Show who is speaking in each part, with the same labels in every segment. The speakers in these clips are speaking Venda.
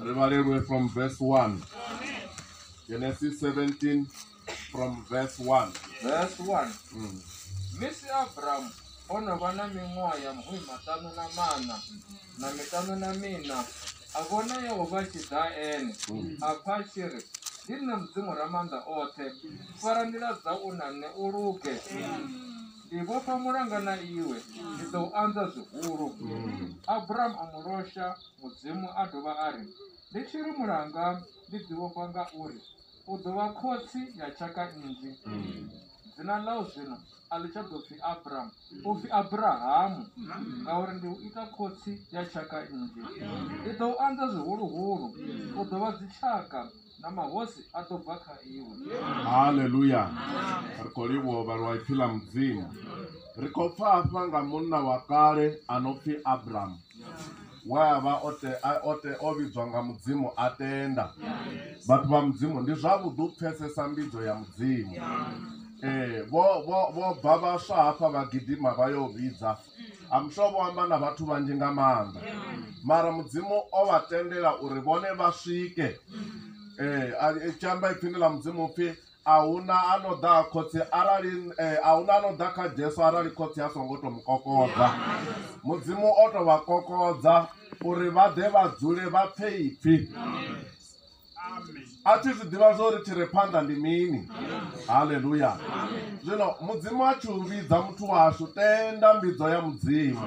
Speaker 1: ri vhalelwe from verse 1 genesis 17 from verse 1
Speaker 2: verse 1 mm. misi abrahamu o no vha na miṅwaha ya mhumi maṱanu na maṋa na miṱanu na mina a vhona yehova tshi ḓa ene mm. a pfa a tshi ri ndi nṋe mudzimu ra maanḓa oṱhe fara nḓila dza u na nṋe u luge ndi vhofha mulanga na iwe ndi ḓo u anza zwihulu abrahamu a mu losha Mudzimu a dovha a ri, Ndi tshi ri mulanga, ndi ḓivhofha nga uri u ḓo vha khotsi ya tshaka nnzhi. Dzina ḽau zwino a ḽi tsha ḓo pfi Abramu, u pfi Abrahamu, ngauri ndi u ita khotsi ya tshaka nnzhi. Ndi ḓo u anza zwihuluhulu, u ḓo vha dzitshaka. na mahosi a ḓo bva kha iwe haleluya
Speaker 1: ri khou livhuwa uvha lwa ipfi ḽa mudzimu ri khou pfa hafha nga munna wa kale a no pfi abrahamu we a vha o vhidzwa nga mudzimu a tenda vhathu vha mudzimu ndi zwavhuḓi u pfesesa mbidzo ya mudzimu ee vho bva vhaswa hafha vha gidima vha yo vhidza I'm sure vho amba na vhathu vhanzhi nga maanḓa mara mudzimu o vha tendela uri vhone vha swike eh, a- tshi amba ipfini ḽa mudzimu upfhi ahuna a no ḓa ha khotsi arali eh, ahuna a no ḓa kha jesu arali khotsi a songo to mu kokodza mudzimu o to vha kokodza uri vha ḓe vha dzule vha pfe ipfi a thi zwi ḓivha zwo ri tshi re phanḓa ndi mini haleluya zwino mudzimu a tshi u vhidza muthu washu tenda mbidzo ya mudzimu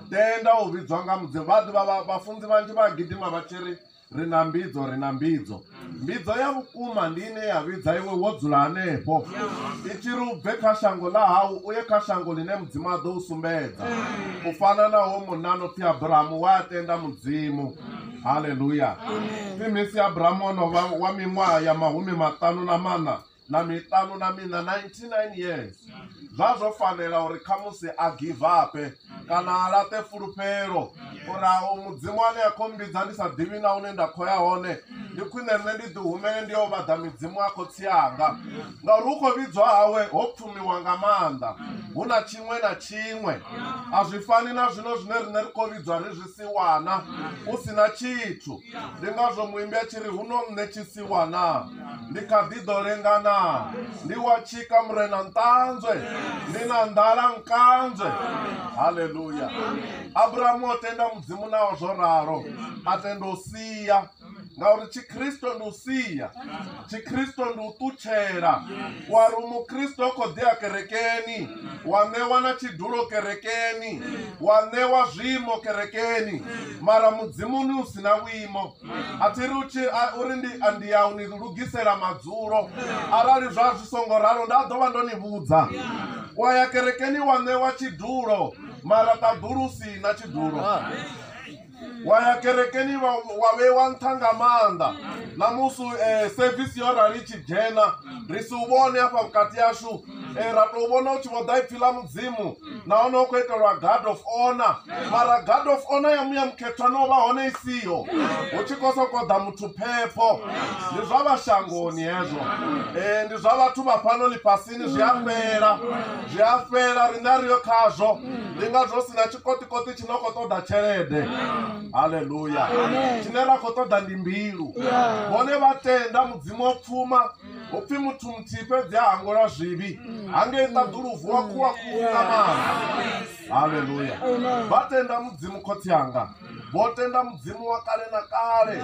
Speaker 1: tenda u vhidzwa nga mudzimu vha ḓivha vhafunzi vhanzhi vha gidima vha tshi ri ri na mbidzo ri na mbidzo mbidzo ya vhukuma ndi ine ya vhidza iwe wo dzula hanefho i tshi ri u bve kha shango ḽa hau u ye kha shango ḽine mudzimu a ḓo u sumbedza u fana na wo munna no pfhi abrahamu wa a tenda mudzimu Haleluya! Pfi Misi Abrahamu o no vha wa miṅwaha ya mahumi maṱanu na maṋa na miṱanu na miṋa, 99 years. Zwa zwo fanela uri khamusi a givape kana a laṱe fulufhelo uri a u Mudzimu ane a khou mmbidza ndi sa ḓivhi na hune nda khou ya hone, ndi khwine nṋe ndi ḓihumele ndi yo vhaḓa midzimu a khotsi anga. Ngauri hu khou vhidzwa hawe ho pfumiwa nga maanḓa, hu na tshiṅwe na tshiṅwe. A zwi fani na zwino zwine riṋe ri khou vhidzwa ri zwi tsiwana hu si na tshithu ndi ngazwo muimbi a tshi ri huno nṋe tshisiwana ndi kha ḓi ḓo lengana ndi wa tshika murena nṱanzwe ndi na nḓala nkanzwe haleluya abrahamu o tenda mudzimu naho zwo ralo a tenda u sia ngauri tshikristo ndi u sia tshikristo ndi u ṱutshela wa ri mukristo o khou ḓea kerekeni wa ṋewa na tshidulo kerekeni wa ṋewa zwiimo kerekeni mara mudzimuni u si na vhuimo a thi ri uri ndi ndi ya u ni lugisela madzulo arali zwa zwi songo ralo nda ḓo vha ndo ni vhudza wa ya kerekeni wa ṋewa tshidulo mara ṱaḓulu si na tshidulo wa ya kerekeni wa wa vheiwa nṱha nga maanḓa ṋamusi um eh, sevisi yo rali i tshi dzhena ri si u vhone hafha vhukati yashu um eh, ra tou vhona u tshi vho ḓa ipfhi ḽa mudzimu nahone u khou itelwa guard of honor mara guard of honor ya muya mukhethwa no vha hone i siho hu tshi khou sokou ḓa muthu phepho ndi zwa vhashangoni hezwo um ndi zwa vhathu vha fhano ḽifhasini zwi a fhela zwi a fhela riṋe a ri yo khazwo ndi ngazwo si na tshikoṱikoṱi thi nga khou ṱoḓa tshelede haleluya tshine ra khou ṱoḓa ndi mbilu vhone vha tenda mudzimu wa pfuma upfi muthu muthihi fhedzi a hangwelwa zwivhi hangei ṱaḓuluvu wa khuwa khuhu nga maanḓa haleluya vha tenda mudzimu khotsi anga vho tenda mudzimu wa kale na kale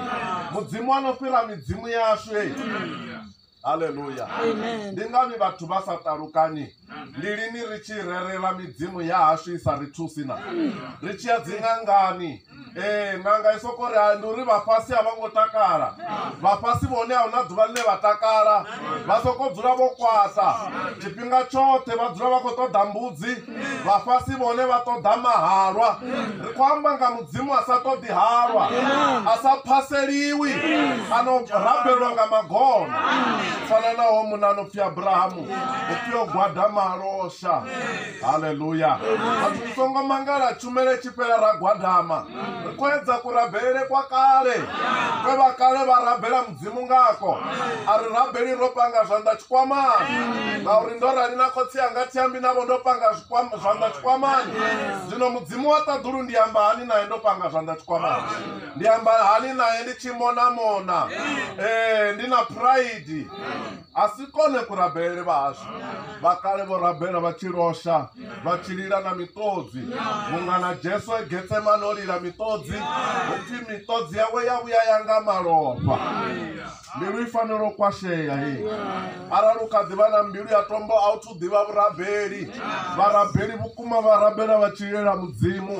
Speaker 1: mudzimu ano fhira midzimu yashu haleluya Amen. ndi ngani vhathu vha sa ṱalukanyi ndi lini ri tshi rerela midzimu ya hashu i sa ri thusi na ri tshi ya dziṅangani ee ṅanga i soko ri "Hai, ndi uri vhafhasi a vha ngo takala vhafhasi vhone a huna ḓuvha ḽine vha takala vha soko dzula vho kwata tshifhinga tshoṱhe vha dzula vha khou ṱoḓa mbudzi vhafhasi vhone vha ṱoḓa mahalwa ri khou amba nga mudzimu a sa ṱoḓi halwa a sa phaseliwi a no rabelwa nga magona fana naho muna no pfi abrahamu u pfi o gwada malosha haleluya vhathu ri songo mangala tshumele tshi fhela ra gwadama ri khou edza kurabelele kwa kale kwe vha kale vha rabela dzi mu ngako. A ri, Rabeli, ro panga zwanḓa tshikwamani, ngauri ndo rali na khotsi anga, thi ambi navho ndo panga zwanḓa tshikwamani. Zwino Mudzimu wa ṱaḓulu ndi amba hani nae ndo panga zwanḓa tshikwamani? Ndi amba hani nae ndi tshi monamona? Ee, ndi na phuraidi. a si kone kurabelele vhashu vhakale vho rabela vha tshi losha vha tshi lila na miṱodzi vhunga na jesu e getsemane o lila miṱodzi upfi miṱodzi yawe ya vhuya ya nga malofha mbilu i fanela u kwashea hei arali u kha ḓivha na mbilu ya tombo a u ḓivha vhurabeli vharabeli vhukuma vha rabela vha tshi lilela mudzimu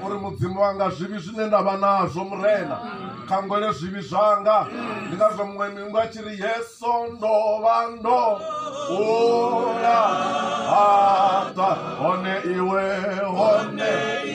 Speaker 1: uri mudzimu wanga zwivhi zwine nda vha nazwo murena khangwele zwivhi zwanga ndi ngazwo muṅwe mingu a tshi ri yeso ndo vha ndo ula haṱa hone iwe hone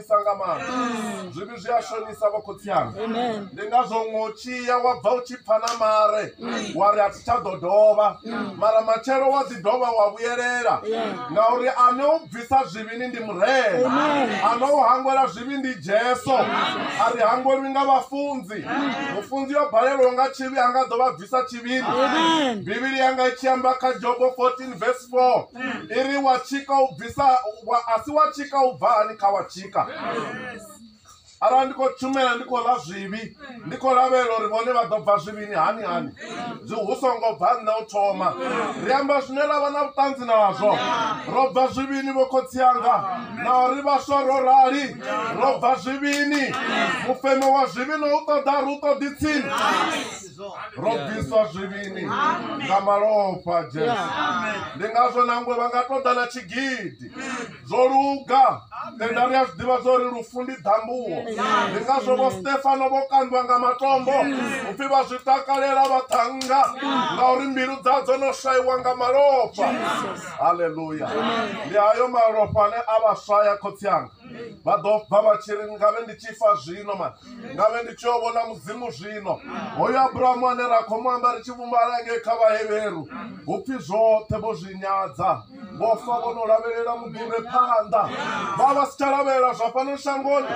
Speaker 1: shonisa nga maanḓa mm. zwivhi zwi a shonisa vho khotsi anga ndi ngazwo ngo tshiya wa bva u tshi pfa na mare mm. wa ri a thi tsha ḓo dovha mm. mara matshelo wa ḓi dovha wa vhuyelela ngauri ane u bvisa zwivhini ndi murena ane u hangwela zwivhi ndi jesu a ri hangwelwi nga vhafunzi mufunzi yo balelwa nga tshivhi a nga ḓo vha sa tshivhili bivhili yanga i tshi amba kha jobo 14 vs 4 i ri wa tshika u bvisa a si wa tshika u bva hani kha wa tshika arali ndi khou tshumela ndi khou ḽa zwivhi ndi khou lavhelela uri vhone vha ḓo bva zwivhini hani hani zwi hu songo bva nṋe u thoma ri amba zwine ra vha na vhuṱanzi nazwo ro bva zwivhini vho khotsi anga na uri vhaswa ro rali ro bva zwivhini mufemo wa zwivhi no u ṱoḓa ri u ṱoḓi tsini ro bviswa zwivhini nga malofha a jesu ndi ngazwo nangwe vha nga ṱoḓa na tshigidi zwo luga tenda ri a zwi ḓivha zwa uri lufu ndi ḓambuwo ndi ngazwo vho stefano vho kandwa nga matombo upfhi vha zwi takalela vha ṱhanga ngauri mbilu dza dzo no swaiwa nga malofha haleluya ndi hayo malofha ane a vha swaya khotsi anga vha ḓo bva vha tshi ri ngavhe ndi tshi fa zwino mani ngavhe ndi tshio vhona mudzimu zwino hoyo abrahamu ane ra khou mu amba ri tshi vhumbala ngei kha vhaheveru hu pfi zwoṱhe vho zwi nyadza vho fa vho no lavhelela mugure phanḓa vha vha si tsha lavhelela zwa fhano shangoni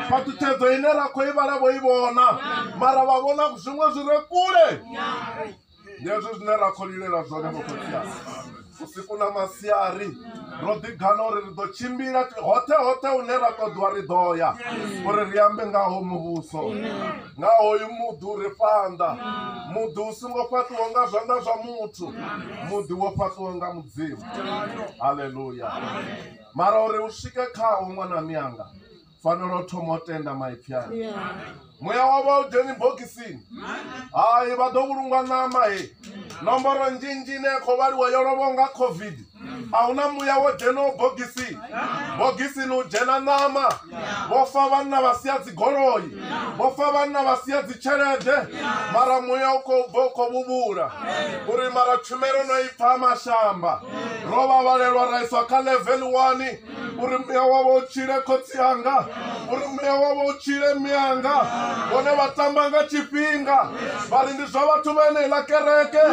Speaker 1: phaṱhutshedzo ine ra khou i vhala vho i vhona mara vha vhona zwiṅwe zwi re kule Ndi hezwi zwine ra khou lilela zwone vho khotsiasi vhusiku na masiari ro ḓigana uri ri ḓo tshimbila hoṱhe hoṱhe hune ra ṱoḓiwa ri ḓo ya uri ri ambe ngaho muvhuso nga hoyu muḓi u ri fhanḓa muḓi u songo fhaṱiwa nga zwanḓa zwa muthu muḓi wo fhaṱiwa nga mudzimu haleluya mara uri u swike khawo ṅwana miyanga fanela u thoma u tenda maipfi ayo muya wavho a u dzheni bokisini hai vha ḓo vhulungwa ṋama he nomboro nzhinzhi ine ya khou vhaliwa yo lovho nga covid a hu na muya wo dzhenaho bogisi bogisini u dzhena ṋama vho fa vhanna vha sia dzigoloi vho fa vhanna vha sia dzitshelede mara muya u khou bva u khou vhuvhula uri mara tshumelo no i pfha mashamba ro vha vhalelwa ra iswa kha level one uri muya wavho u tshile khotsi anga uri muya wavho u tshile miyanga vhone vha tamba nga tshifhinga vha ri ndi zwa vhathu vha eneiḽa kereke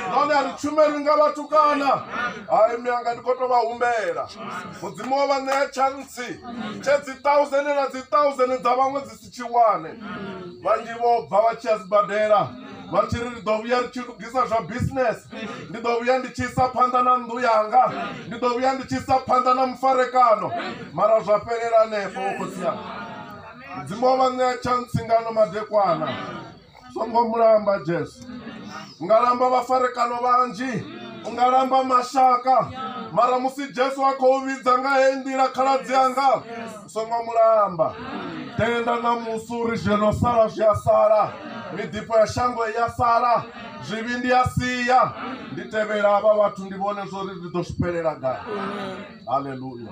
Speaker 1: nahone a ri tshumelwi nga vhathu kana hai miyanga ndi khou tou vha humbela mudzimu wa vha ṋea tshantsi tshe dzi thousand na dzi thousand dza vhaṅwe dzi tshiwane vhanzhi vho bva vha tshi ya sibadela vha tshi ri ndi ḓo vhuya ri tshi lugisa zwa business ndi ḓo vhuya ndi tshi isa phanḓa na nnḓu yanga ndi ḓo vhuya ndi tshi isa phanḓa na mufarekano mara zwa fhelela hanefho vho khotsiana mudzimu wa vha ṋea tshantsingano madekwana songo mulamba jesu unga lamba vhafarekano vhanzhi unga lamba mashaka mara musi jesu a khou vhidza nga he nḓila khaladzi anga songo mulamba tenda na musi uri zwi no sala zwi a sala miḓifho ya shango i ya sala zwivhi ndi a sia ndi tevhela havha vhathu ndi vhone zwori ndi ḓo zwi fhelela gai haleluya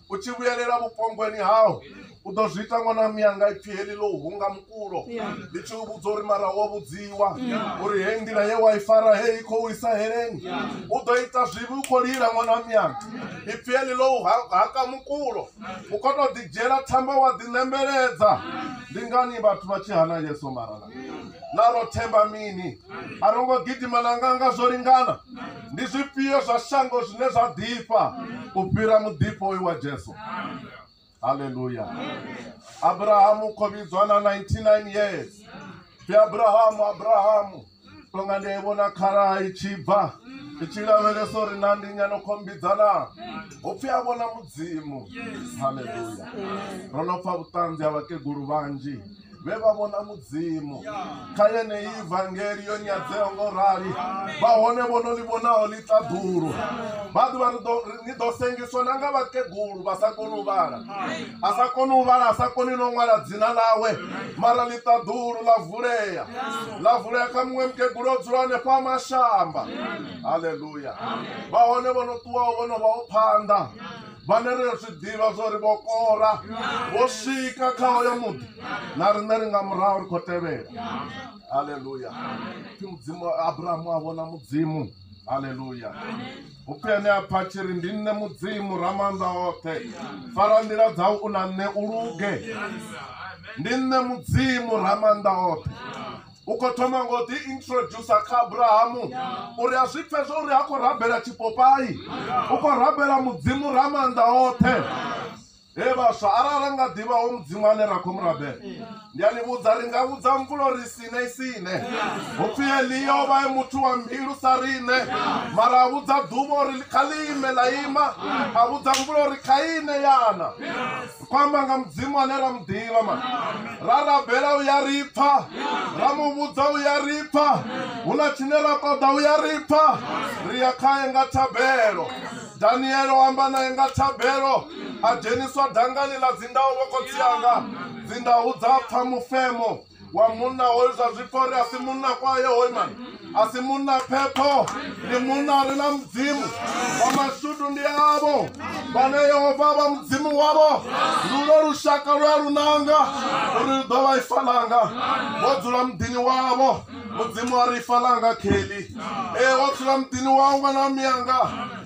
Speaker 1: u tshi vhuyelela vhupongweni hau u ḓo zwi ita ṅwana mianga ipfhi heḽi ḽo hunga mukulo ndi tshi u vhudza uri mara wo vhudziwa uri hei nḓila ye wa i fara hei i khou isa heleni u ḓo ita zwivhi u khou lila ṅwana mianga ipfhi heḽi ḽo haka mukulo u khou tou ḓidzhiela thambo wa ḓiṋembeledza ndi ngani vhathu vha tshi hana yesu mara na ro themba mini a ro ngo gidima na nganga zwo lingana ndi zwifhio zwa shango zwine zwa ḓifha u fhira muḓifho uyu wa jesu halleluya abrahamu u kho vhidzwa na 99 years pfi abrahamu abrahamu tonga ndi a i vhona khala i tshi bva i tshi lavhelesa uri na ndi nyano khombidzana hopfi a vhona mudzimu halleluya ro no pfa vhuṱanzi ha vhakegulu vhanzhi vhe vha vhona mudzimu kha yeneyi vangeli yo nyadzeho ngo rali vha hone vho no ḽi vhonaho ḽi ṱaḓulu vha ḓuvha ni ḓo sengiswa na nga vhakegulu vha sa koni u vhala a sa koni u vhala a sa koni no ṅwala dzina ḽawe mara ḽi ṱaḓulu ḽa vulea ḽa vulea kha muṅwe mukegulu o dzula hanefha mashamba haleluya vha hone vho no ṱuwaho vho no vha o phanḓa vhane ri zwi ḓivha zwa uri vho kora vho swika kha hoyo muḓi na riṋe ri nga murahu ri khou tevhela haleluya pfi mudzimu abrahamu a vhona mudzimu haleluya upfi ene a pfa tshiri ndi nṋe mudzimu ramaanḓa oṱhe fara nḓila dzau u na nṋe u luge ndi nṋe mudzimu ramaanḓa oṱhe u khou thoma ngo ḓi introducer kha abrahamu uri a zwi pfhe zwa uri ha khou rabela tshipopai u khou rabela mudzimu ra maanḓa oṱhe he vhaswa arali ra nga ḓivha ho mudzimu ane ra khou mu rabela ndi a ni vhudza ri nga vhudza mvulo ri sine sine hupfi eliya o vha e muthu wa mbilu sa riṋe mara a vhudza ḓuvha uri kha ḽi ime ḽa ima a vhudza mvulo uri kha ine yana kwamba nga mudzimu ane ra mu ḓivha ma ra rabela u ya ri pfa ra mu vhudza u ya ri pfa hu na tshine ra ṱoḓa u ya ri pfa ri ya khae nga thabelo daniele o amba naye nga thabelo a dzheniswa dangani ḽa dzindaho vhokhotsi anga dzindahu dza pfa mufemo wa munna hoyu zwa zwipfa uri a si munna kwaye hoyu mani a si munna phepho ndi munna a re na mudzimu wa mashudu ndi avo vhane yehova vha mudzimu wavho lulo lushaka lwa lunanga uri lu ḓo vha ifa ḽanga vho dzula muḓini wavho mudzimu a ri ifa ḽanga kheli ee wo dzula muḓini wau ṅwana wa miyanga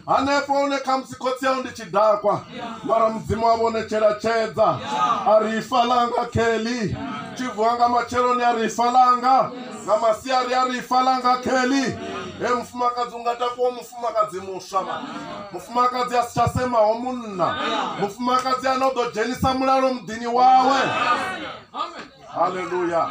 Speaker 1: Hanefho hune khamusi khotsi yau ndi tshidakwa, mara Mudzimu wavho o netshela tshedza, a ri, Ifa ḽanga Kelly. Tshi vuwa nga matsheloni a ri, Ifa ḽanga. Nga masiari a ri, Ifa ḽanga Kelly. Hee mufumakadzi u nga takuwa u mufumakadzi muswa mara. Mufumakadzi a si tsha semaho munna. Mufumakadzi ane u ḓo dzhenisa mulalo muḓini wawe. Haleluya.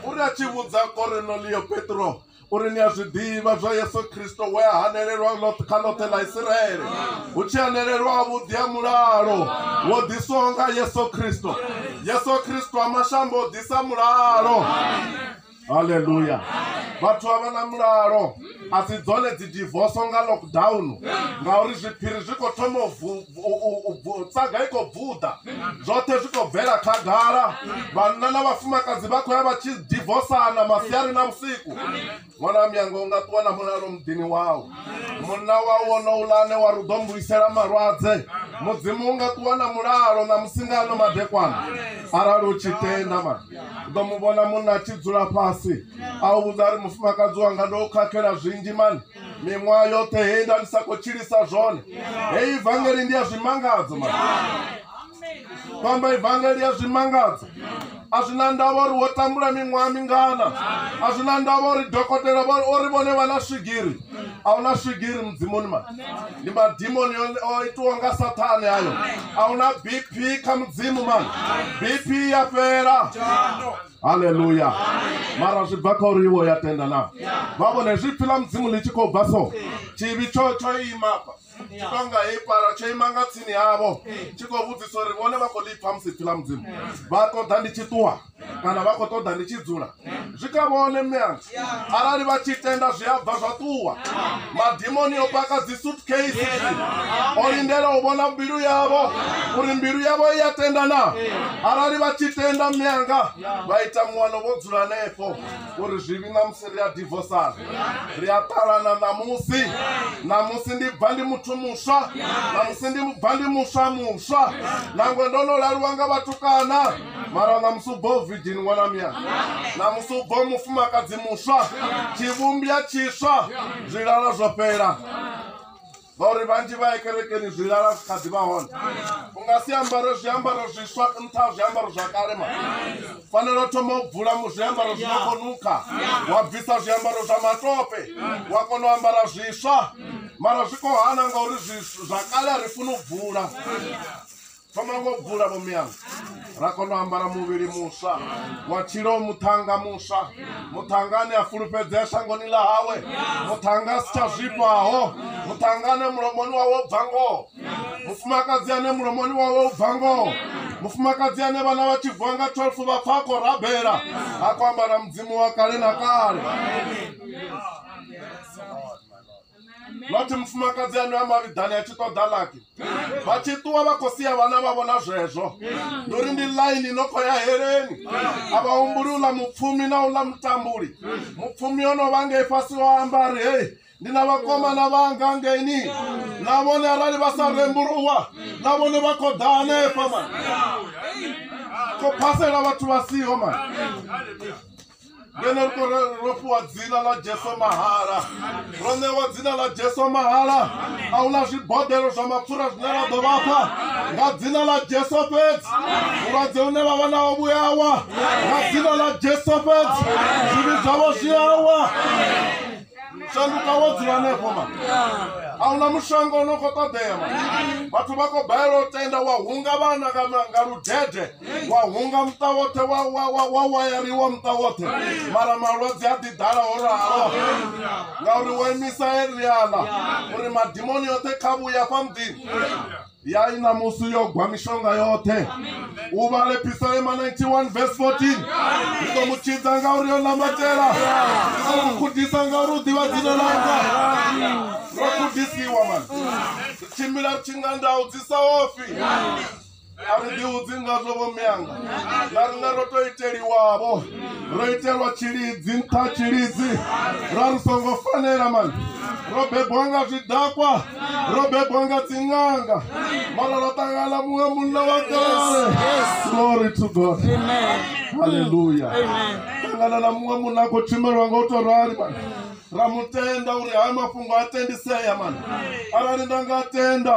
Speaker 1: U ri a tshi vhudza Korenelio Petro, uri ni a zwi ḓivha zwa Yesu Kristo we a hanelelwa kha ḽoṱhe ḽa Isiraele hu tshi hanelelwa vhuḓi ha mulalo wo ḓiswaho nga Yesu Kristo Yesu Kristo a mashambo o ḓisa mulalo haleluya vhathu a vha na mulalo a si dzone dzi divoso nga lockdown ngauri zwiphiri zwi khou thoma u tsaga i khou bvuḓa zwoṱhe zwi khou bvela khagala vhanna na vhafumakadzi vha khou ya vha tshi divosana masiari na vhusiku ṅwana miyanga u nga ṱuwa na mulalo muḓini wau munna wau wonouḽa ane wa ri ḓo mbuyisela malwadze mudzimu u nga ṱuwa na mulalo na musingano madekwana arali u tshi tenda ma u ḓo mu vhona munna a tshi dzula fhasi a u vhudza ri mufumakadzi wanga ndo khakhela zwinzhi mani miṅwaha yoṱhe he nda ndi sa khou tshilisa zwone hei ivangeli ndi ya zwimangadzo ma kwamba ivangeli ya zwimangadzo a zwi na ndavha uri wo tambula miṅwaha mingana a zwi na ndavha uri dokotela ori vhone vha na swigiri a hu na swigiri mudzimuni ma ndi madimoni o itiwa nga sathane ayo a hu na bp kha mudzimu mani bp ya fhela haleluya mara zwi bva kha uri iwe ya tenda na vha vhone zwi pfhi ḽa mudzimu ḽi tshi khou bva so tshivhi tsho tsho imafha tshi tonga heyi pala tsho ima nga tsini havho tshi khou vhudzisa uri vhone vha khou ḽi pfha musi pfhi ḽa mudzimu vha ṱoḓa ndi tshi ṱuwa kana vha khou ṱoḓa ndi tshi dzula zwi kha vhone mme anga arali vha tshi tenda zwi a bva zwa ṱuwa madimoni o paka dzi suitcase zwi o lindela u vhona mbilu yavho uri mbilu yavho i ya tenda na arali vha tshi tenda mianga vha ita muwano vho dzula hanefho uri zwivhi ṋamusi ri a divosana ri a ṱalana ṋamusi ṋamusi ndi bva ndi muthu muswa ṋamusi ndi bva ndi muswa muswa nangwe ndo no laluwa nga vhatukana mara na musi u bva uvhidini ṅwana muyani na musi u bva mufumakadzi muswa tshivhumbya tshiswa zwilala zwo fhela ngauri vhanzhi vha ye kerekeni zwilala zwi kha ḓi vha hone u nga si ambare zwiambaro zwiswa nṱha ha zwiambaro zwa kale ma fanela u thoma u bvula mu zwiambaro zwi no khou nukha wa bvisa zwiambaro zwa matope wa kona u ambara zwiswa mara zwi khou hana ngauri zwa kale a ri funi u bvula thoma ngo bvula vho miyanga ra kona u ambara muvhili muswa wa tshilo muṱhanga muswa muṱhanga ane a fulufhedzea shangoni ḽa hawe muṱhanga a si tsha zwifhaho muṱhanga ane mulomoni wawe u bva ngoho mufumakadzi ane mulomoni wawe u bva ngoho mufumakadzi ane vhana vha tshi vuwa nga 12 vha pfa a khou rabela a khou ambara mudzimu wa kale na kale nothi mufumakadzi ano ya mavhiḓani a tshi ṱoḓa lapi vha tshi ṱuwa vha khou sia vhana vha vhona zwezwo ndi uri ndi ḽaini no khou ya heleni a vha humbuli uḽa mupfumi na uḽa mutambuli mupfumi o no vha ngei fhasi o amba a ri hei ndi na vhakomana vhanga ngeini na vhone arali vha sa rembuluwa na vhone vha khou ḓa hanefha mani khou phasela vhathu vha siho mani ngeno ri ro fhiwa dzina ḽa jesu mahala ro ṋewa dzina ḽa jesu mahala a hu na zwibodelo zwa mapfura zwine ra ḓo vhafha nga dzina ḽa jesu fhedzi vhulwadze une vha vha nawo vhuyawa nga dzina ḽa jesu fhedzi zwivhi zwavho zwi awa shanduka wo dzula hanefho ma a hu na mushonga u no khou ṱoḓea ma vhathu vha khou balelwa u tenda wa hunga vhana nga ludede wa hunga muṱa woṱhe wa wa wa wa wayariwa muṱa woṱhe mara malwadze a ḓi ḓala ho ralo ngauri wo imisa eriana uri madimoni yoṱhe kha vhuya fha muḓini ya i ṋamusi yo gwa mishonga yoṱhe u vhale pisalema 91 vs 14 ndi ḓo mu tshidza ngauri yo namatela ndi ḓo mu khudisa ngauri u ḓivha dzina langa ro khudisiwa mani ri tshimbila ri tshi nga ndau dzi sa ofi ri ḓihudzi ngazwo vho mianga na riṋe ro to iteliwavho ro itelwa tshilidzi nṱha tshilidzi ra ri songo fanela mani ro bebwa nga zwidakwa ro bebwa nga dziṅanga mara ra ṱangana muṅwe munna wa kale glory to god halleluya ṱangana na muṅwe munna a khou tshimelwa nga u to rali mani ra mutenda uri haya mafhungo a tendisea mani arali nda nga tenda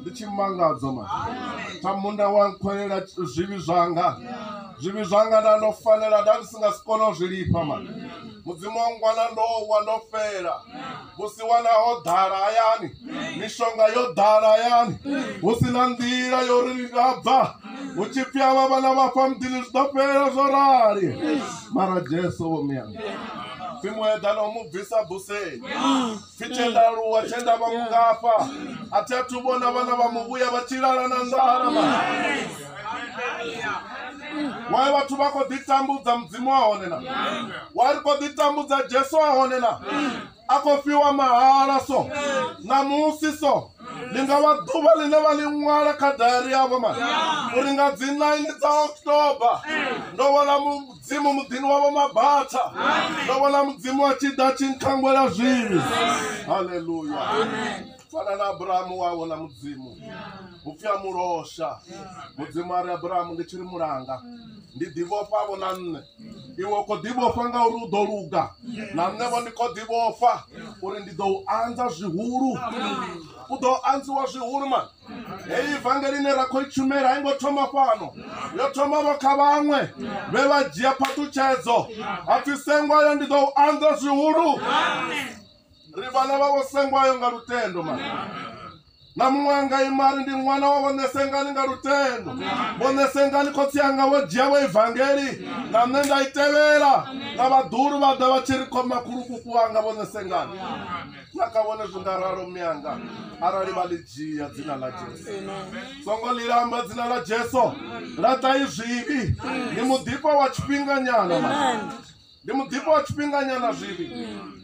Speaker 1: ndi tshi mangadzo ma tha munda wa nkhwelela zwivhi zwanga zwivhi zwanga nda ndo fanela nda ndi si nga si kone u zwi lifha ma mudzimu wa ngwana ndo wa ndo fela musi wana ho ḓala hayani mishonga yo ḓala hayani hu si na nḓila yo ri ndi nga bva hu tshi pfi avha vhana vha fha muḓini zwi ḓo fhela zwo rali mara jesu vho miyanga simuedana u mu bvisa buseni pfi tenda aluwa tenda vha mugafha a thi athu vhona vhana vha muvhuya vha tshilala na nḓala ma wae vhathu vha khou ḓitambudza mudzimu a hone na wa ri khou ḓitambudza jesu a hone na a khou fiwa mahala so ṋamusi so ndi nga vha ḓuvha ḽine vha ḽi ṅwala kha dayari yavho mani uri nga dzi 9 dza october ndo vhona dzimu muḓini wavho mabatha ndo vhona mudzimu a tshi ḓa tshi nkhangwela zwivhi haleluya fana na abrahamu wa vhona mudzimu hu pfi a mulosha mudzimu a ri abrahamu ndi tshi ri mulanga ndi ḓivhofha vho na nṋe iwe u khou ḓivhofha nga uri u ḓo luga na nṋe vho ndi khou ḓivhofha uri ndi ḓo u anza zwihulu u ḓo anziwa zwihulu mani heyi ivangeli ine ra khou i tshumela a i ngo thoma fhano yo thomavho kha vhaṅwe vhe vha dzhia phaṱhutshedzo a pfi sengwayo ndi ḓo u anḓa zwihulu ri vhana vhavho sengwayo nga lutendo ma na muṅwe anga imari ndi ṅwana wa vho ṋesengani nga lutendo vho ṋesengani khotsi anga vho dzhia vho ivangeli na nṋe nda i tevhela na vhaḓulu vha ḓa vha tshi ri khoma khulukuku anga vho ṋesengani na kha vhone zwi nga ralo mme anga arali vha ḽi dzhia dzina ḽa jesu songo ḽi lamba dzina ḽa jesu laṱai zwivhi ndi muḓifha wa tshifhinganyana ndi muḓifha wa tshifhinganyana zwivhi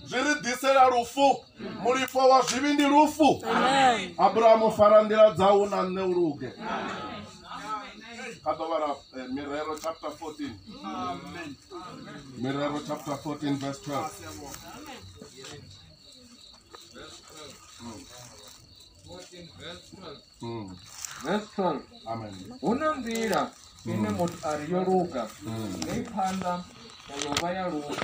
Speaker 1: zwi ri ḓisela lufu mulifho wa zwivhi ndi lufu abrahamu fara nḓila dzau na nṋe u luge kha ḓo vhala eh, mirero chapter 14 mirero chapter 14 verse 12
Speaker 2: hu na
Speaker 1: nḓila
Speaker 2: ine mm. muthu a ri yo luga mm. nga i phanḓa yovha ya lufu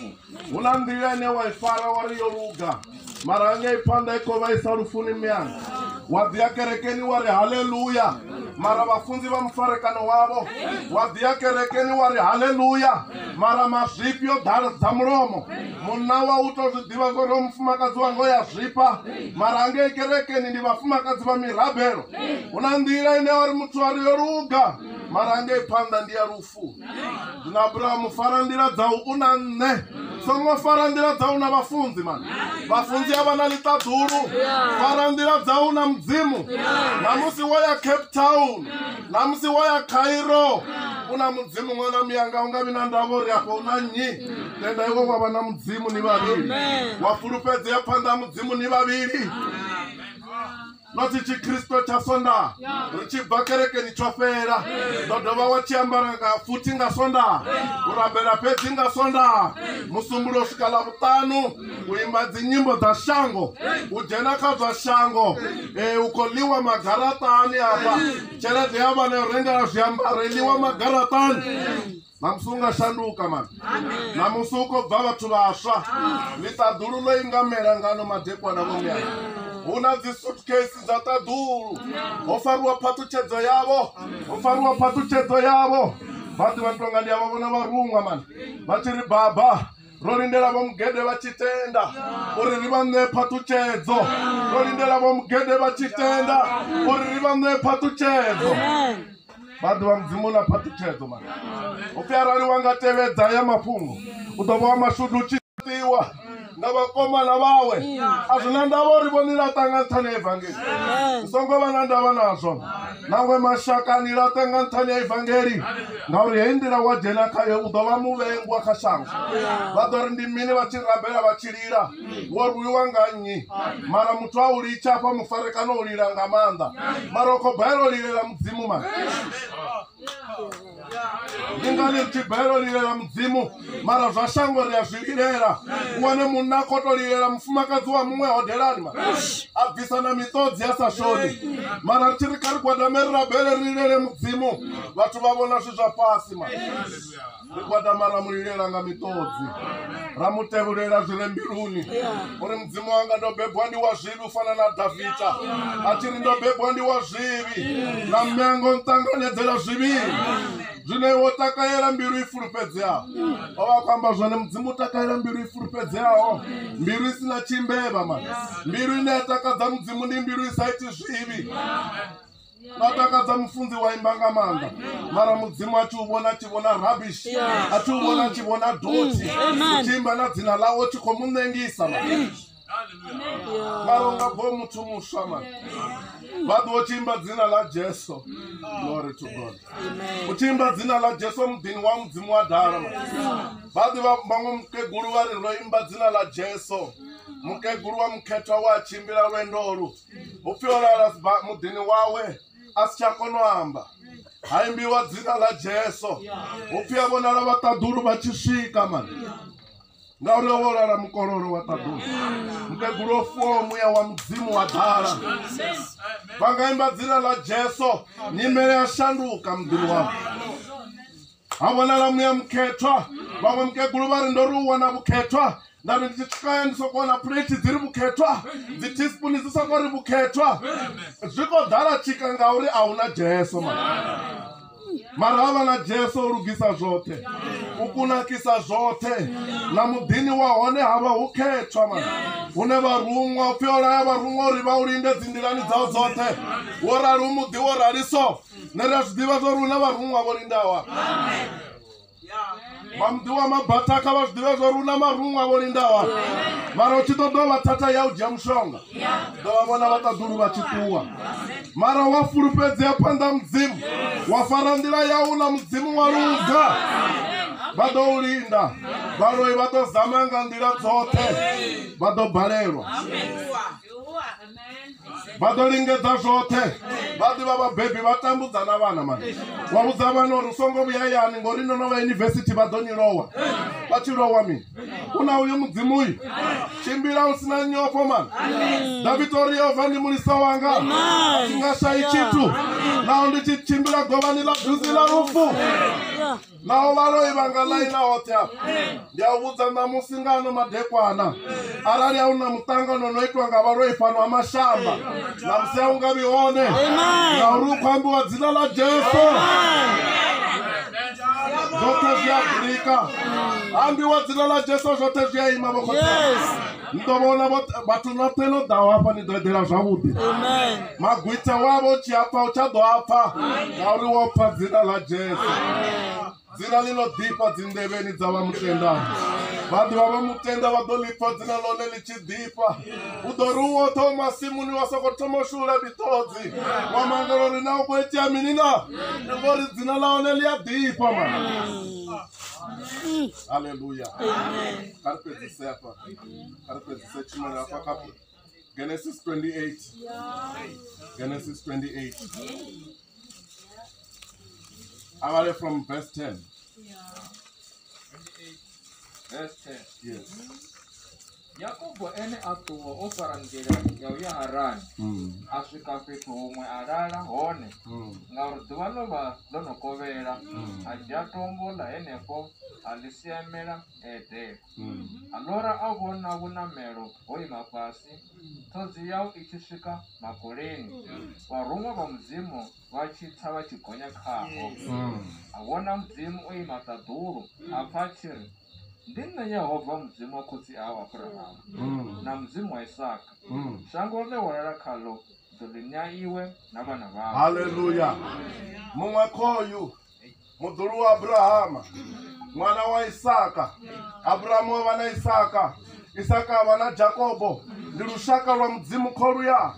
Speaker 2: hu na nḓila
Speaker 1: ine wa i fara wa ri yo luga mara nga i phanḓa i kho vhaisa lufuni miyanga wa ḓi ya kerekeni wa ri haleluya mara vafunzi va mufarekano wavo wa ḓiya kerekeni wa ri haleluya mara mazwifhi yo ḓala dza mulomo munna wa u to zwi ḓivha zwo ro mufumakadzi wa ngo ya zwifha mara angei kerekeni ndi vhafumakadzi vha mirabelo hu na nḓila ine wa ri muthu a ri yo luga mara angei phanḓa ndi ya lufu vhathu ndi na abrahamu fara nḓila dzau u na nṋe songo fara nḓila dzau na vhafunzi mani vhafunzi a vha na ḽiṱaḓulu fara nḓila dzau na mudzimu na musi wo ya cape town na musi wo ya cairo u na mudzimu ṅwana muyanga u nga vhi na ndavha uri afho u na nnyi tenda iwe wa vha na mudzimu ni vhavhili wa fulufhedzea phanḓa ha mudzimu ni vhavhili nothi tshikristo tsha sondaha ri tshi bva kerekeni tsho fhela ndo dovha wa tshi ambara nga futhi nga sondaha u rabela fhedzi nga sondaha musumbulo u swika ḽavhuṱanu u imba dzinyimbo dza shango u dzhena kha zwa shango um u khou ḽiwa magaraṱani afha tshelede ya vhana yo rengela zwiambaro i ḽiwa magaraṱani Ṋamusi u nga shanduka man. Ṋamusi u khou bva vhathu vhaswa. Ḽiṱaḓululo i nga mela ngano madekwana vho mea. Hu na dzi suitcase dza ṱaḓulu. Ho fariwa phaṱhutshedzo yavho. Ho fariwa phaṱhutshedzo yavho. Vha ḓi vha tonga ndi a vha vhona vha ruṅwa man. Vha tshi ri baba. ro lindela vho mugede vha tshi tenda uri ri vha ṋee phaṱutshedzo ro lindela vho mugede vha tshi tenda uri ri vha ṋee phaṱutshedzo vha ḓivha mudzimu na phaṱutshedzo ma upfi arali wa nga tevhedza ya mafhungo u ḓo vha wa mashudu u tshi ṱiwa nga vhakomana vhawe a zwi na ndavha uri vho nila ṱanga nṱhani ya evangeli u songo vha na ndavha nazwo maṅwe mashaka a ni laṱe nga nṱhani ya evangeli ngauri heyi nḓila wa dzhena khayo u ḓo vha muvhengwa kha shango vha ḓo ri ndi mini vha tshi rabela vha tshi lila wo rwiwa nga nnyi mara muthu a u litsha afha mufarekano u lila nga maanḓa mara u khou balelwa u lilela mudzimu mara ni nga ḽi thibelo lilela mudzimu mara zwa shango ri a zwi lilela u wane munna a khoto lilela mufumakadzi wa muṅwe hodelani ma a bvisa na miṱodzi a sa shoni mara ri tshi ri kha ri gwadame ri rabele ri lilele mudzimu vhathu vha vhona zwi zwa fhasi ma ri gwadama ra mu lilela nga miṱodzi ra mu tevhulela zwi re mbiluni uri mudzimu wanga ndo bebwa ndi wa zwivhi u fana na davida a tshi ri ndo bebwa ndi wa zwivhi na mengo nṱanganedzela zwivhi zwine wo takalela mbilu i fulufhedzeaho o vha khou amba zwone mudzimu u takalela mbilu i fulufhedzeaho mbilu i si na tshimbevha mani mbilu ine ya takadza mudzimu ndi mbilu i sa iti zwivhi na takadza mufunzi wa imba nga maanḓa mara mudzimu a thi u vhona tshi vhona rubbish a thi u vhona tshi vhona doti u tshi imba na dzina ḽawo tshi khou mu ṋengisa mara u nga bvo muthu muswa mani vha ḓo tshi imba dzina ḽa jesu glory to god u tshi imba dzina ḽa jesu muḓini wa mudzimu wa dala vha ḓivha vhaṅwe mukegulu vha ri ro imba dzina ḽa jesu mukegulu wa mukhethwa wa tshimbila lwendo lu upfi o lala muḓini wawe a si tsha kona u amba ha imbiwa dzina ḽa jesu upfi a vhonala vhaṱaḓulu vha tshi swika mani ngauri o vholala mukololo wa ṱaḓulu mukegulu o fuwaho muya wa mudzimu wa ḓala vha nga imba dzina ḽa jesu nyimele ya shanduka muḓini wavho ha vhonala muya mukhethwa vhaṅwe mukegulu vha ri ndo ri u wana vhukhethwa nda ri ndi tshikaya ndi soko wana plate dzi ri vhukhethwa dzi teaspoon dzi soko ri vhukhethwa zwi khou ḓala tshika ngauri a hu na jesu ma mara ha vha na jesu o lugisa zwoṱhe u kunakisa zwoṱhe na muḓini wa hone ha vha hu khethwa ma hune vharuṅwa u pfhi o laya vharuṅwa uri vha u linde dzi nḓilani dzao dzoṱhe wo rali u muḓi wo rali so nṋe ri a zwi ḓivha zwa uri hu na vharuṅwa vho lindawa vha muḓi wa mabatha kha vha zwi ḓivhe zwa uri hu na maruṅwa vho lindawa mara u tshi ḓo dovha thatha ya u dzhia mushonga ḓo vha vhona vha ṱaḓulu vha tshi ṱuwa mara wa fulufhedzea phanḓa mudzimu wa fara nḓila yau na mudzimu wa luga vha ḓo u linda vhaloi vha ḓo zama nga nḓila dzoṱhe vha ḓo balelwa vha ḓo lingedza zwoṱhe vha ḓivha vhabebi vha tambudza na vhana mani wa vhudza vhana uri u songo vhuya yani ngori no no vha yunivesithi vha ḓo ni lowa vha tshi lowa mini u na uyo mudzimu uyu tshimbila u sina nyofho mani davida uri yehova ndi mulisa wanga a tshi nga shayi tshithu naho ndi tshi tshimbila govhani ḽa duzi ḽa lufu Naho vha loi vha nga ḽaina hoṱhe afha, ndi a u vhudza ṋamusi nga ano madekwana, arali a hu na muṱangano no itwa nga vhaloi fhano ha mashamba, ṋamusi a hu nga vhi hone, ngauri u khou ambiwa dzina ḽa Jesu. Zwoṱhe zwi a brika, ambiwa dzina ḽa Jesu, zwoṱhe zwi a ima vho khotsi. ni ḓo vhona vhathu noṱhe no ḓaho hafha ni ḓo eḓela zwavhuḓi magwitha wavho u tshi apfa u tsha ḓo apfa ngauri wo pfa dzina ḽa jesu dzina ḽi no ḓifha dzinḓevheni dza vha mutendani vhaḓuvha vha mutenda vha ḓo ḽipfa dzina ḽone ḽi tshi ḓifha u ḓo ri u woṱhe o masimuni wa soko thoma u shula miṱodzi wa mangala uri na u khou itea mini na ndi ngori dzina ḽa hone ḽi a ḓifha mana halleluya kha ri fhedzisea Genesis 28. Genesis 28. Avale from verse 10. Yeah. 28. Verse 10.
Speaker 2: Yes. yakobo ene a ṱuwa o fara nḓila ya u ya harani mm. a swika fhethu huṅwe a lala hone mm. ngauri ḓuvha ḽo vha ḽo no kovhela mm. a dzhia tombo ḽa henefho a ḽi siamela edela A lora a vhona vhunamelo ho ima fhasi, ṱhodzi yau i tshi swika makoleni, vharuṅwa vha Mudzimu vha tshi tsa vha tshi gonya khaho. A vhona Mudzimu o ima ṱaḓulu, a pfa a tshi ri, Ndi nṋe Yehova Mudzimu wa khotsi au Abrahamu na Mudzimu wa Isaka. Shango ḽe wa lala khaḽo ndi ḓo ḽi ṋea iwe na vhana vhau. Haleluya.
Speaker 1: Muṅwe khoyu muḓulu wa abrahama ṅwana wa isaka abrahama wa vha na isaka isaka a vha na jakobo ndi lushaka lwa mudzimu kho luya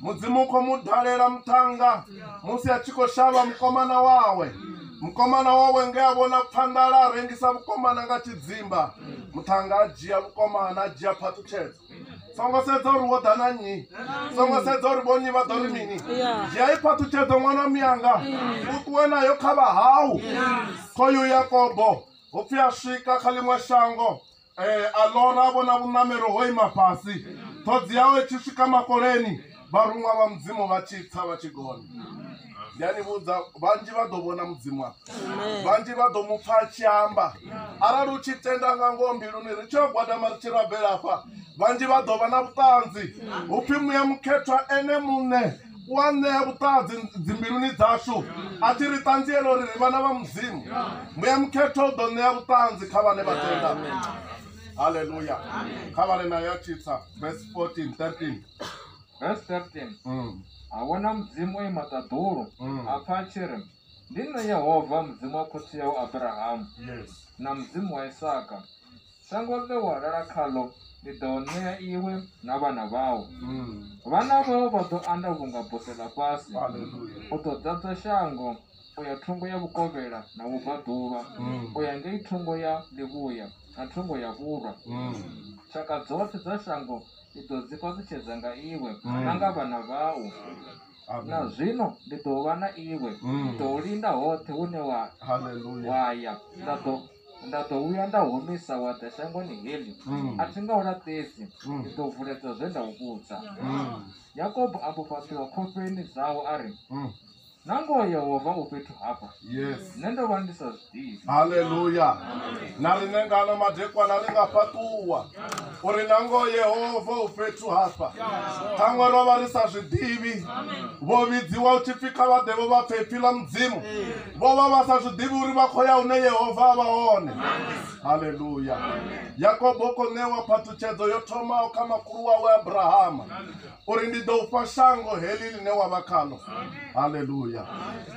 Speaker 1: mudzimu kho mu dalela muṱhannga musi a tshi khou shavha mukomana wawe mukomana wawe nge a vhona phanḓala a rengisa vhukomana nga tshidzimba muṱhannga a dzhia vhukomana a dzhia phaṱhutshedzo songo sedza uri wo ḓa na nnyi songo sedza uri vhonnyi vha ḓo ri mini dzhia i phaṱhutshedzo ṅwana miyanga u ṱuwe nayo kha vha hau khoyu yakobo hu pfi a swika kha ḽiṅwe shango um a lora vhona vhuṋamelo ho ima fhasi ṱhodzi yawe tshi swika makoleni Vharuṅwa vha Mudzimu vha tshi tsa vha tshi gonya. Ndi a ni vhudza vhanzhi vha ḓo vhona Mudzimu afha. Vhanzhi vha ḓo mu pfa a tshi amba. Arali u tshi tenda nga ngoho mbiluni ri tshi yo gwadama ri tshi rabela afha, vhanzhi vha ḓo vha na vhuṱanzi. Hu pfi muya mukhethwa ene muṋe u a ṋea vhuṱanzi dzimbiluni dzashu a tshi ri ṱanziela uri ri vhana vha Mudzimu. Muya mukhethwa u ḓo ṋea vhuṱanzi kha vhane vha tenda. Haleluya. Kha vhale nayo a tshi tsa verse 14, 13. Verse 13
Speaker 2: mm. a vhona mudzimu o ima ṱaḓulu mm. a pfa a tshi ri ndi nṋe yehova mudzimu wa khotsi yau abrahamu na mudzimu wa isaka shango ḽe wa lala khaḽo ndi ḓo ṋea iwe na vhana vhau mm. vhana vhau vha ḓo anda vhunga buse ḽa fhasi u ḓo ḓadza shango u ya thungo ya vhukovhela na vhubvaḓuvha mm. u ya ngei thungo ya ḽivhuya na thungo ya vhulwa mm. tshaka dzoṱhe dza shango ndi ḓo dzi fhaṱutshedza nga iwe mm. na nga vhana vhau na zwino ndi ḓo vha na iwe mm. ndi ḓo u linda hoṱhe hune wa wa ya nda ḓo nda ḓo vhuya nda humisa wa ḓa shangoni heḽi mm. a thi nga u laṱesi ndi ḓo vuledza zwe nda u vhudza yakobo a mbo fhaṱuwa khofheni dzawo a ri na ngoho yehova u fhethu hafha yes nṋe ndo vha ndi sa zwiḓivhi haleluya
Speaker 1: na riṋe ngano madekwana ri nga fhaṱuwa uri na ngoho yehova u fhethu hafha ṱhaṅwe ro vha ri sa zwiḓivhi vho vhidziwa u tshipfi kha vha ḓe vho vha pfhe ipfi ḽa mudzimu vho vha vha sa zwiḓivhi uri vha khou ya hune yehova a vha hone haleluya yakobo u khou ṋewa phathutshedzo yo thomaho kha makhulu wawe abrahama uri ndi ḓo ufha shango heḽi ḽine wa vha khaḽo haleluya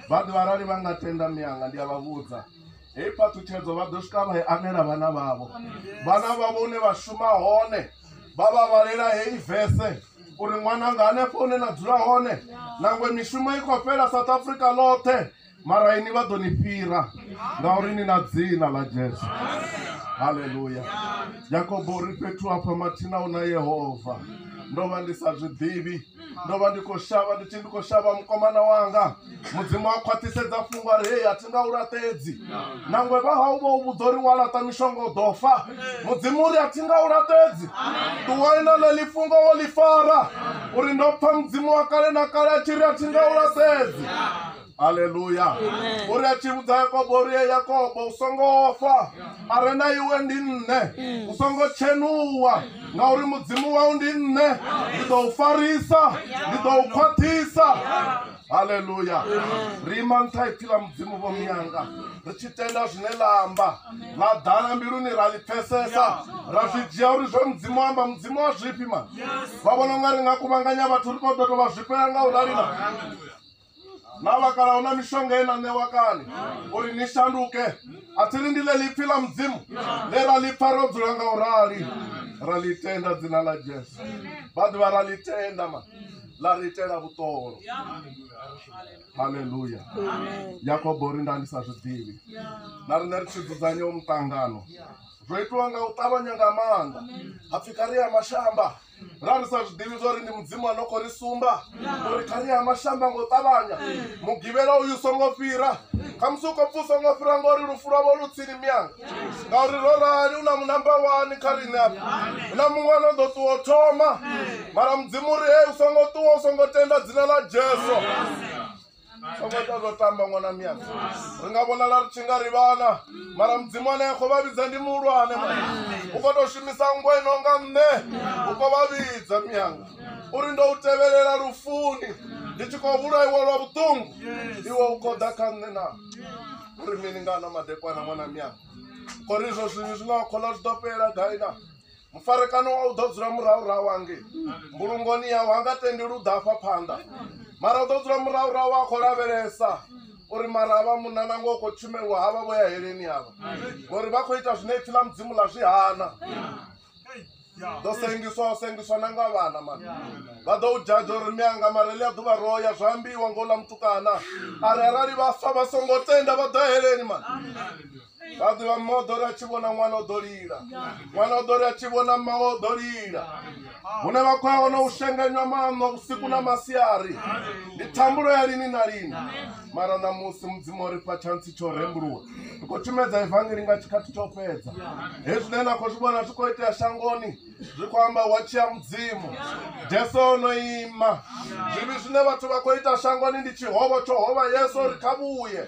Speaker 1: vha ḓivha arali vha nga tenda mianga ndi a vha vhudza heyi phaṱhutshedzo vha ḓo swika vha i anela vhana vhavho vhana vhavho hune vha shuma hone vha vha vhalela heyi vese uri ṅwananga hanefho hune na dzula hone nangwe mishumo i khou fhela south africa ḽoṱhe mara ini vha ḓo ni fhira ngauri ni na dzina ḽa jesu haleluya yakobo uri fhethu hafha mathina u na yehova ndo vha ndi sa zwi ḓivhi ndo vha ndi khou shavha ndi tshi ndi khou shavha mukomana wanga mudzimu a khwaṱhisedza fhungo ari hei a thi nga u laṱedzi nangwe vha hau vha u vhudza uri wa laṱa mishonga u ḓo fa mudzimu uri a thi nga u laṱedzi ṱuwai na ḽeḽi fhungo wo ḽi fara uri ndo pfha mudzimu wa kale na kale a tshi ri a thi nga u laṱedzi haleluya u ri a tshi vhudza yakobo uri ye yakobo u songo fa a re na iwe ndi nṋe u songo tshenuwa ngauri mudzimu wau ndi nṋe ndi ḓo u farisa ndi ḓo u khwaṱhisa haleluya ri ima nṱha ipfi ḽa mudzimu vho miyanga ri tshi tenda zwine ḽa amba ḽa ḓala mbiluni ra ḽi pfesesa ra zwi dzhia uri zwe mudzimu amba mudzimu wa zwifhi mani vha vhona u nga ri nga kuvhanganya vhathu ri khou ḓo tou vha zwifhela nga u rali na na vhakala hu na mishonga ye na ṋewa kale uri ni shanduke a thi ri ndi ḽe ḽipfi ḽa mudzimu ḽe ra ḽi pfa ro dzula nga u rali ra ḽi tenda dzina ḽa jesu vha ḓivha ra ḽi tenda ma ḽa ri itela vhuṱolo haleluya yakobo ri nda ndi sa zwi ḓivhi na riṋe ri tshi dzudzanya u muṱangano zwo itiwa nga u ṱavhanya nga maanḓa ha pfhi kha ri ya mashamba ra ri sa zwi ḓivhi zwa uri ndi mudzimu a no khou ri sumba uri kha ri ya mashango ngo ṱavhanya mugivhela uyu songo fhira khamusi u khou pfa u songo fhira ngauri lufu lwavho lu tsini miyanga ngauri ro rali u na munamba wani kha riṋe afha hu na muṅwe ano ḓo ṱuwa u thoma mara mudzimu uri hei u songo ṱuwa u songo tenda dzina ḽa jesu songo ita zwo tamba ṅwana miyanga ri nga vhonala ri tshi nga ri vhana mara mudzimu ane a khou vha vhidza ndi muhulwane u khou tou shumisa nngwa ino nga nṋe u khou vha vhidza miyanga uri ndo u tevhelela lufuni ndi tshi khou vhulaiwa lwa vhuṱungu iwe u khou ḓa kha nṋe na uri mini nga ano madekwana ṅwana miyanga khori izwo zwivhi zwine wa khola zwi ḓo fhela gai na Mufarekano wa u ḓo dzula murahurahu hangei mbulungoni yawe, ha nga tendeli u ḓa afha phanḓa, mara u ḓo dzula murahurahu a khou lavhelesa uri mara havha munna na ngoho khou tshumelwa havha vho ya heleni havha ngori vha khou ita zwine ipfi ḽa mudzimu ḽa zwi hana ḓo sengiswa o sengiswa na nga vhana mani vha ḓo u dzhadzha uri mme anga mara ḽi a ḓuvha ro ya zwa ambiwa ngo ḽa mutukana a ri arali vha fa vha songo tenda vha ḓo heleni mani vha ḓivha mma o ḓo ri a tshi vhona ṅwana o ḓo lila ṅwana o ḓo ri a tshi vhona mma o ḓo lila hune vha khou ya hone u shenganywa maṋo vhusiku na masiari ndi thambulo ya lini na lini mara ṋamusi mudzimu o ri fha tshantsi tsho rembuluwa ri khou tshumedza evangeli nga tshikhathi tsho fhedza hezwi zwine na khou zwi vhona zwi khou itea shangoni zwi khou amba wa tshia mudzimu jesu o no ima zwivhi zwine vhathu vha khou ita shangoni ndi tshihovho tsho hovha yesu ri kha vhuye